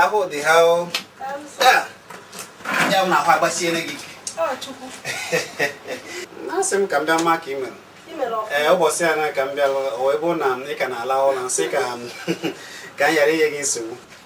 ahụ dị ha ya m na ahụ agbasiere gị ike asị m ka m bịa ma ka ị mere ee eh, ụbọchị a na ka m bịa ebe na ị ka na-ala ụlọ m sị ka m ghara inye gị nsogbu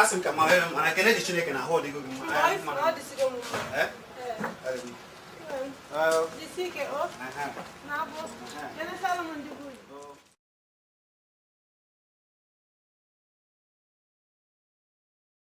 asị m ka m ma mana ekene dị Chineke na ahụ adịgo gị mma